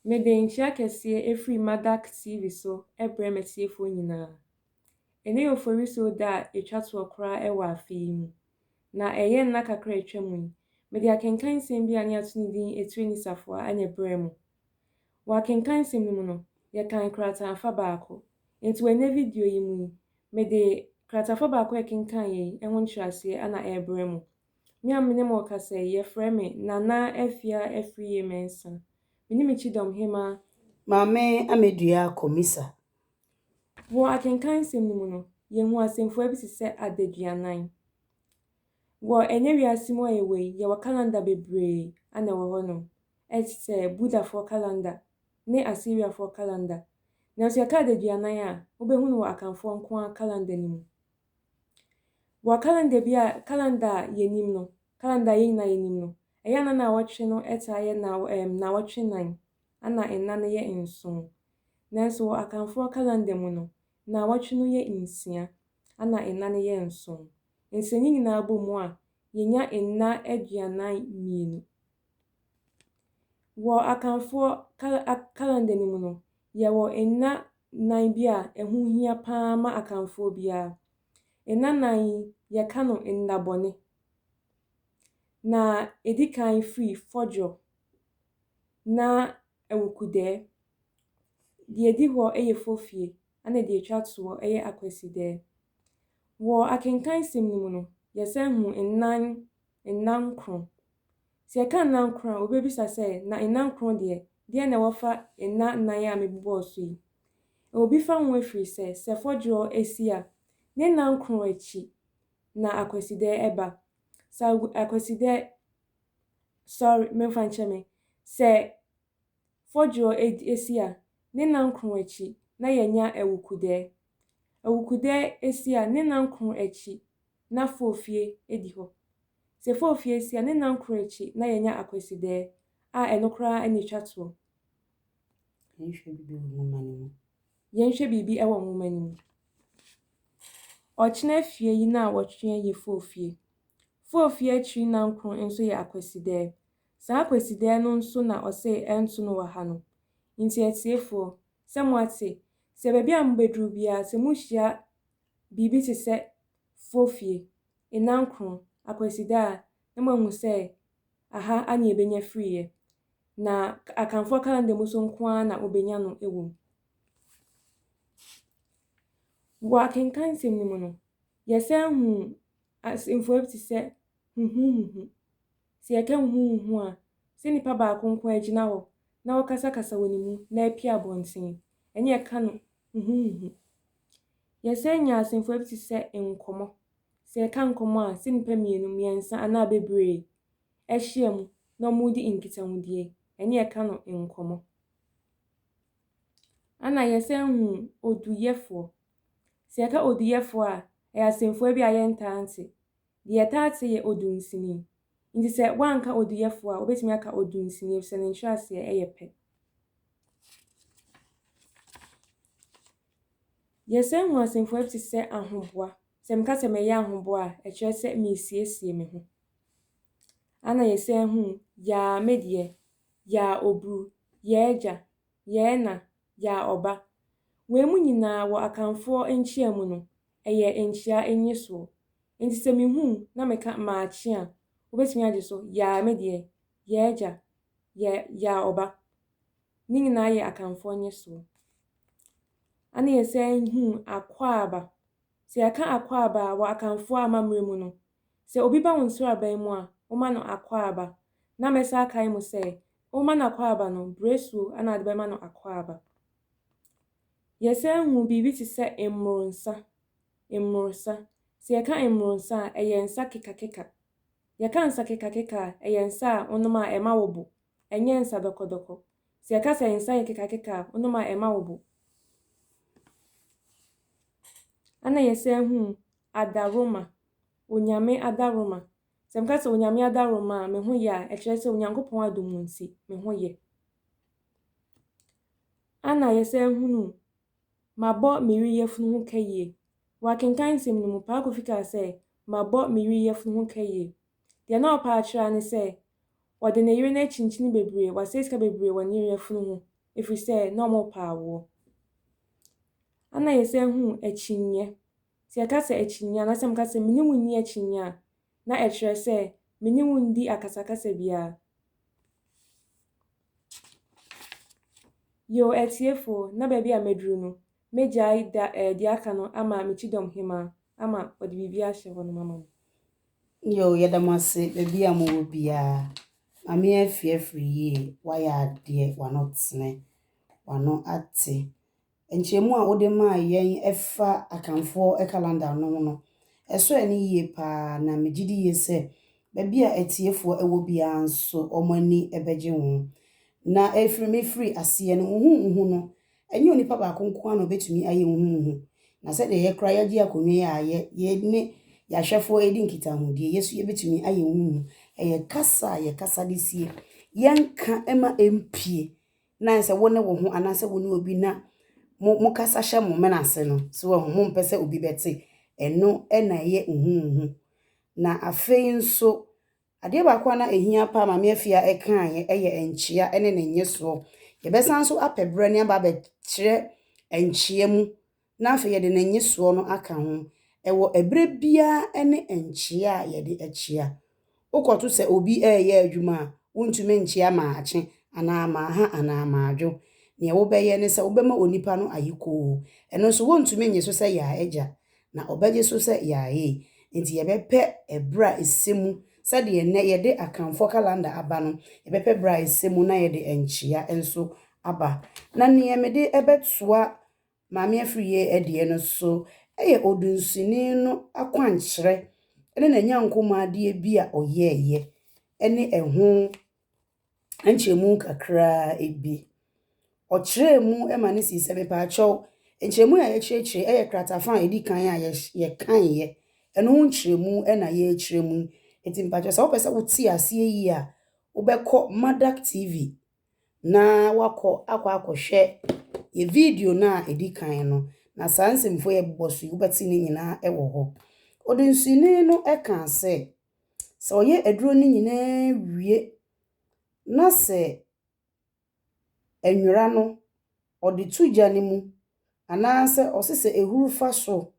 Mede nhyira kɛseɛ ɛfiri Madak TV so brɛ m'atiefoɔ nyinaa. Ɛnɛ yɛ Oforisuo da a ɛtwa toɔ koraa wɔ afe yi mu, na ɛyɛ nna kakra a atwa mu yi, mede akenkan nsɛm bi a ne yɛato ne din Etire ne Safoa na ɛbrɛɛ mo. Wɔ akenkan nsɛm no mu no, yɛkan krataafa baako. Nti wɔ ɛnɛ video yi mu yi, mede krataafa baako a ɛkenkan yɛ yi ho nkyerɛaseɛ na ɛrebrɛ mo. Me a me ne mo rekasa yi, wɔfrɛ me Nana Afia Afriyie-Mensah. Me ne me kyidɔm hemaa. Maame Amedua Komisa. Wɔ akenkan nsɛm no mu no, yɛhu asɛmfua bi te sɛ adaduanan. Wɔ ɛnnɛ wiase mu a yɛwɔ yi, yɛwɔ calendar bebree a na ɛwɔ hɔnom, te sɛ Buddhafoɔ calendar ne Assyriafoɔ calendar. Nanso yɛka adaduanan a, wobɛhu no wɔ Akanfoɔ nko ara calendar no mu. Wɔ calendar bi a calendar a yɛnim no, calendar a yɛn nyinaa yɛnim no, ɛyɛ a na naawɔtwe no taa yɛ na um, naawɔtwe nnan, ana nna no yɛ nson. Nanso wɔ Akanfoɔ calendar mu no, naawɔtwe no yɛ nsia, ana nna no yɛ nson. Nti sɛ ne nyinaa bɔ mu a, yɛnya nna aduanan mmienu. Wɔ Akanfoɔ calendar no mu no, yɛwɔ nna nnan bi a ɛho hia paa ma Akanfoɔ biara. Nna nnan yi, yɛka no nna bɔne. Na ɛdi kan firi Fɔdwɔ na Awukudɛɛ. Deɛ ɛdi hɔ yɛ Fofie ɛna deɛ ɛtwa toɔ yɛ Akwasidɛɛ. Wɔ akenkan sɛm no mu no, yɛsan hu nnan, nna nkron. Sɛ yɛka nna nkron a, wobebisa sɛ, 'Na nna nkron deɛ, deɛn na ɛwɔ fa nna nnan a mebobɔɔ so yi? Ɛwɔ bi fa ho ɛfiri sɛ, sɛ fɔdwerɔ si a, ne nna nkron akyi na Akwasida ba. Sɛ Agu, Akwasida, sorry, memfa nkyɛ me, sɛ Fɔdwerɔ ed esi a, ne nnankron akyi na yɛanya Awukudɛɛ. Awukudɛɛ esi a, ne nnankron akyi na Foofie edi hɔ. Sɛ Foofie si a, ne nnankron akyi na yɛanya Akwasidɛɛ, a ɛno koraa na etwa toɔ. Yɛnhwɛ biribi wɔ nwoma no mu. Yɛnhwɛ biribi wɔ nwoma no mu. Ɔkyena fie yi nnaawɔtwe yɛ Foofie. Foofie akyiri nnankron nso yɛ Akwasidɛɛ. Saa Kwasidaɛ no nso na ɔsee ɛnto no wɔ ha no. Nti atiefoɔ, sɛ moate, sɛ baabi a mobɛduru biara sɛ mohyia biribi te sɛ Fofie, Nnankron, Akwasida a, na moahu sɛ aha a ne ɛbɛnya firiiɛ. Na Akanfoɔ kalanda mu so nko ara na wɔbɛnya no wɔ mu. Wɔ akenkan nsɛm no mu no, yɛsan huu asɛmfua bi te sɛ huhuhuhu. Sɛ yɛka huhuuhu a, sɛ nipa baako nko ara gyina hɔ na ɔkasakasa wɔ ne mu na apue abɔnten, ɛne yɛka no huhuuhu. Yɛsan nya asɛmfua bi te sɛ nkɔmmɔ. Sɛ yɛka nkɔmmɔ a, sɛ nnipa mmienu, mmiɛnsa anaa bebree ahyia mu na wɔredi nkitahodie, ɛne yɛka no nkɔmmɔ. Ana yɛsan hu oduyɛfoɔ. Sɛ yɛka oduyɛfoɔ a, ɛyɛ asɛmfua bi a yɛntaa nte. Deɛ yɛtaa te yɛ odunsini. Nti sɛ woanka oduyɛfoɔ a, wobɛtumi aka odunsini efisɛ ne nkyerɛaseɛ yɛ pɛ. Yɛsan hu asɛmfua bi te sɛ ahoboa. Sɛ meka sɛ mɛyɛ ahoboa a, ɛkyerɛ sɛ meresiesie me ho. Ana yɛsan hu yaa me deɛ, yaa oburu, yɛɛ gya, yɛɛ na, gyaa ɔba. Wei mu nyinaa wɔ Akanfoɔ nkyea mu no, ɛyɛ nkyea nyesoɔ. Nti sɛ mehu na meka maakye a, wobɛtumi agye so, yaa me deɛ, yɛɛ gya, yɛ, yaa ɔba. Ne nyinaa yɛ Akanfoɔ nyesoɔ. Ana yɛsan hu akwaaba. Sɛ yɛka akwaaba a, wɔ Akanfoɔ amammerɛ mu no, Sɛ obi ba wo nsraban mu a, woma no akwaaba. Na mɛsan akae mo sɛ, woma no akwaaba no, brɛsuo na wode bɛma no akwaaba. Yɛsan hu biribi te sɛ mmoro nsa, mmorosa. Sɛ yɛka mmoro nsa a, ɛyɛ nsa kekakeka. Yɛka nsa kekakeka a, ɛyɛ nsa a wonom a ɛma wo bo, ɛnyɛ nsa dɔkɔdɔkɔ. Sɛ yɛka sɛ nsa yɛ kekakeka a, wonom a ɛma wo bo. Ɛnna yɛsan hu adaworoma, Onyame adaworoma. Sɛ meka sɛ Onyame adaworoma a, me ho yɛ a, ɛkyerɛ sɛ Onyankopɔn adom nti, me ho yɛ. Ana yɛsan hunu Mabɔ me yere yafunu ho ka yie. Wɔ akenkan nsɛm no mu, Paa Kofi kaa sɛ, Mabɔ me yere yafunu ho ka yie. Deɛ na ɔpɛ akyerɛ ara ne sɛ, ɔde ne yere no akyinkyini bebree, wasɛe sika bebree wɔ ne yere yafunu ho, ɛfiri sɛ na wɔrepɛ awoɔ. Ana yɛsan hunu akyinnyeɛ. Sɛ yɛka sɛ akyinnye anaasɛ meka sɛ me ne wo nni akyinnye a, na ɛkyerɛ sɛ me ne wo nndi akasakasa biara. Yiw, atiefo, na baabi a maduru no, megyae da a edi aka no ama me kyidɔm hemmaa ama ɔde biribi ahyɛ hɔnom ama me. Yiw, yɛda mo ase baabi a mowɔ biara. Maame Afie afiri yie, wayɛ adeɛ, w'ano tene, w'ano ate, Nkyerɛmu a wode maa yɛn ɛfa Akanfoɔ calendar no ho no, ɛsɔɔ ani yie paa na megye di yie sɛ baabi a atiefoɔ wɔ biara nso wɔn ani bɛgye ho. Na ɛrefiri me firi aseɛ no, nhunuhu no, ɛnyɛ onipa baako nko ara na ɔbɛtumi ayɛ nhunuhu. Na sɛdeɛ yɛn koraa yɛagye akonnwa yi a yɛ, yɛne yɛn ahwɛfoɔ redi nkitahodie, yɛ nso yɛbɛtumi ayɛ nhunuhu. Ɛyɛ kasa a yɛkasa de sie yɛn nka ma ɛmpue na ayɛ sɛ wo ne wo ho anaasɛ wo ne obi na mo mo kasa hyɛ mo mena ase no so wahu mo mpɛ sɛ obi bɛte ɛno na ɛyɛ huhuhu na afei nso adeɛ baako a na ɛhia paa maame afia ɛkaeɛ yɛ nkyea ɛne ne nyesoɔ yɛbɛsan nso apɛ berɛ ne aba abɛkyerɛ nkyea mu na afei yɛde ne nnyesoɔ no aka ho, ɛwɔ ɛberɛ biara ne nkyea a yɛde akyea. Wokɔto sɛ obi reyɛ adwuma a, wontumi nkyea maakye anaa maaha anaa maadwo. Deɛ wobɛyɛ ne sɛ wobɛma onipa no ayekoo. Ɛno nso wɔntumi nnye so sɛ yaa agya, na ɔbɛgye so sɛ yaee. Enti yɛbɛpɛ ɛberɛ a ɛsɛ mu, sɛdeɛ nnɛ yɛde Akanfoɔ kalanda aba no, yɛbɛpɛ ɛberɛ a ɛsɛ mu na yɛde nkyea nso aba. Na deɛ mede bɛtoa Maame Afriyie deɛ no so yɛ odunsini no akwankyerɛ ne n'anyankomadeɛ bi a ɔyɛeɛ ne ɛho nkyerɛmu kakra bi. Ɔkyerɛɛ mu ma no sii sɛ, mepaakyɛw, nkyerɛmu yi a yɛakyerɛkyerɛ yi yɛ kratafa a ɛdi kan a yɛs yɛkaeɛ, ɛno ho nkyerɛmu na yɛrekyerɛ mu. Enti mepaakyɛw, sɛ wopɛ sɛ wote aseɛ yie a, wobɛkɔ Madak TV na woakɔ akɔ akɔhwɛ yɛ video no a ɛdi kan no, na saa nsɛmfua yi a ɛbobɔ so yi, wobɛte ne nyinaa wɔ hɔ. Ɔdensini no kaa sɛ, sɛ ɔyɛ aduro no nyinaa wie na sɛ nwera no, ɔde to gya no mu anaasɛ ɔse sɛ ɛhuru fa so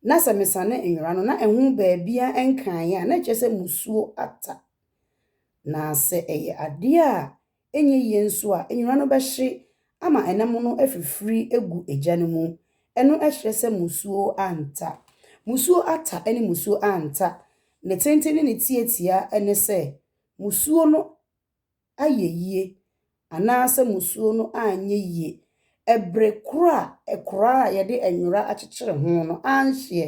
na sɛ mesane nwera no na ɛho baabiara ɛnkaeɛ a, na ɛkyerɛ sɛ musuo ata. Na sɛ ɛyɛ adeɛ a ɛnyɛ yie nso a, nwera no bɛhye ama ɛnam no afifiri agu egya no mu. Ɛno ɛkyerɛ sɛ musuo anta. Musuo ata ne musuo anta, ne tenten ne ne tiatia ne sɛ, musuo no ayɛ yie anaasɛ musuo no anyɛ yie ɛbere korɔ a ɛkoraa a yɛde nwera akyekyere ho no anhyeɛ,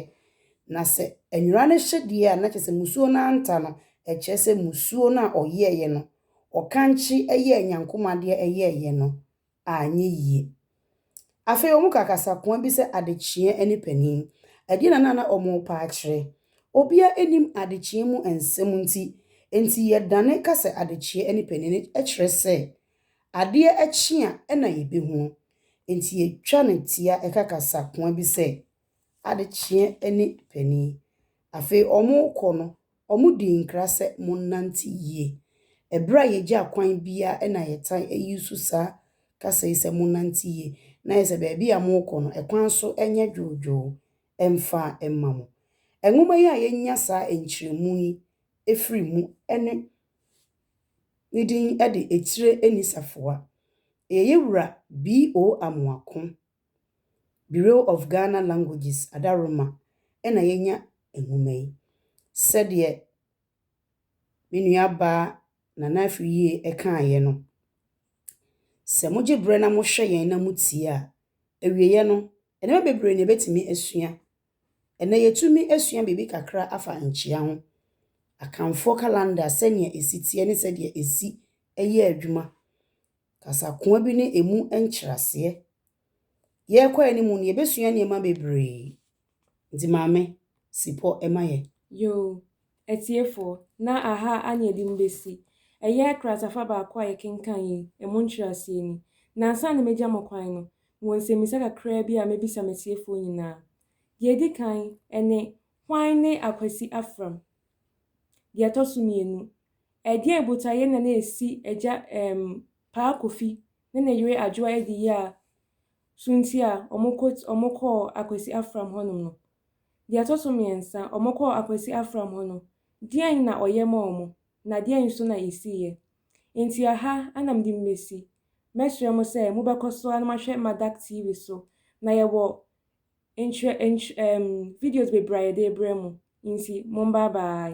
na sɛ nwera no hye deɛ a na kyerɛ sɛ musuo no anta no, ɛkyerɛ sɛ musuo no a ɔyɛeɛ no, ɔkankye yɛɛ nyankomadeɛ yɛeɛ no, anyɛ yie. Afei wɔn kaa kasakoa bi sɛ adekyeɛ ɛne panin. Ɛdeɛ na na na wɔn repa akyerɛ. Obiara nnim adekyeɛ mu nsɛm nti, enti yɛdane ka sɛ adekyeɛ ɛne panin no kyerɛ sɛ adeɛ kye a ɛna yɛbɛhunu. Enti yɛtwa no tia ɛka kasakoa bi sɛ adekyeɛ ne panin. Afei wɔrekɔ no, wɔdii nkra sɛ, Monnante yie. Ɛberɛ a yɛgye akwan biara na yɛtan use saa kasa yi sɛ monnante yie, na ayɛ sɛ baabi a morekɔ no, ɛkwan so nyɛ dwoodwoo mfa mma mo. Nwoma yi a yɛnya saa nkyerɛmu yi firi mu ne ne din de Etire Nni Safoa. Yɛyɛ Wura B.O. Amoako Bureau of Ghana Languages Adaroma na yɛanya nwoma yi. Sɛdeɛ me nuabaa Nana Afriyie kaeɛ no, sɛ mogye berɛ na mohwɛ yɛn na motie a, awieeɛ no, nneɛma bebree na yɛbɛtumi asua. Ɛnnɛ yɛtumi sua biribi kakra afa nkyea ho, Akanfoɔ calendar, sɛdeɛ ɛsi teɛ ne sɛdeɛ ɛsi yɛ adwuma. Kasakoa bi ne emu nkyerɛaseɛ. Yɛrekɔ anim no, yɛbɛsua nneɛma bebree. Nti maame, si pɔ ma yɛn. Yoo, atiefoɔ, na aha anyɛ den bɛsi. Ɛyɛ kratafa baako a yɛkenkan yi, emu nkyerɛaseɛ ni. Nansa na mɛgya mo kwan no, mewɔ nsɛmmisa kakraa bi a mɛbisa m'atiefoɔ nyinaa. Deɛ ɛdi kan, ɛne, Hwan ne Akwasi Afram? Deɛ ɛtɔ so mmienu, ɛdeɛn botaeɛ na na ɛsi Agya ɛɛm Paa Kofi ne ne yere Adwoa Adiyiaa so nti a wɔkɔ wɔkɔɔ Akwasi Afram hɔ nom no? Deɛ ɛtɔ so mmiɛnsa, wɔkɔɔ Akwasi Afram hɔ no, deɛn na ɔyɛ maa wɔn, na deɛn nso na ɛsiiɛ? Nti aha na mede mo bɛsi. Mɛsrɛ mo sɛ mobɛkɔ so ara na moahwɛ Madak TV so, na yɛwɔ Nkyerɛ nky ɛɛm videos bebree a yɛde rebrɛ mo nti mombaa baae.